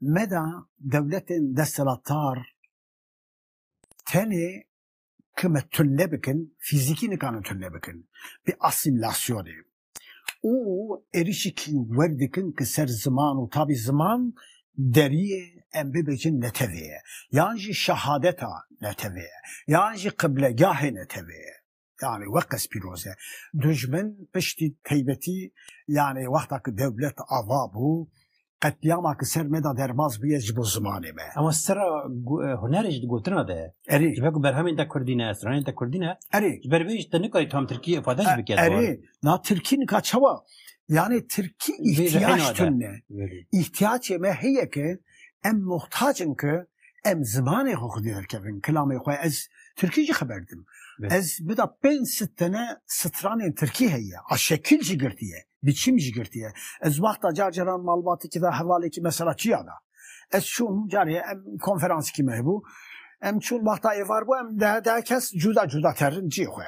Meda dewletên desthilatdar tenê ki me tune bikin, fîzîkî nikarin tune bikin bi asîmîlasyonê û êrîşekî wer dikin ki ser ziman û tabî ziman deriyê em bibêjin netewê ye yan jî şehadeta netewê ye yan jî qiblegahê netewê ye. yani weqes pîroz e. Dijmin piştî teybetî yani wexta ki dewlet ava bû qetlîama ki ser me da derbas bûye ji bo zimanê me. Ema sera hunerê ji di gotina de erê ji ber ku berhemên te kurdî ne, stranên te kurdî ne erê ji ber vê jî te nikarî tam tirkî ifade jî bike. Erê na tirkî nika çawa yani tirkî îhtiyactun ne. Îhtiyacê me heye ki em muhtacin ki Em zimanê xwe xwedî derkevin, kilamê xwe ez Tirkî jî xeber didim. Ez bida pênc sit tene stranên Tirkî heye. A şekil jî girtiye, biçîm jî girtiye. Ez wexta car caran malbatêkî da hevalêkî mesela çiya da. Ez çûm carê em konferansikî me hebû. Em çûn wexta êvar bû em dehe dehe kes cuda cuda terin ciyê xwe.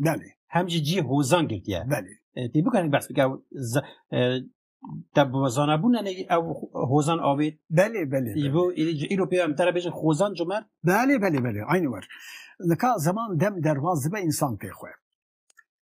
Belê. Hem jî cî hozan girtiye. Belê. Tê bikarin behs bike te bi zanabûna ne ew hozan avê. Belê belê. Bo îro pê em tera bêjin hozan cumer. Belê belê belê. Aynı var. Lika zaman dem dervaz dibe insan pê xwe.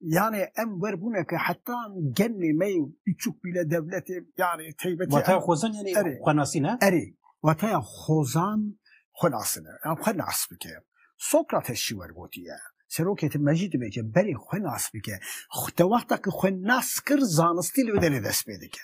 Yani em wer bûne ki heta gennê me biçûk bîle devletê yani teybetê. Wata xozan yani xwe nasîne? Erê. Wata xozan xwe nasine. Em xwe nas bike. Sokrates şî wergotiye. Serokê te mecî dibe ke berê xwe nas bike. Te wexta ki xwe nas kir zanistî li derê dest pê dike.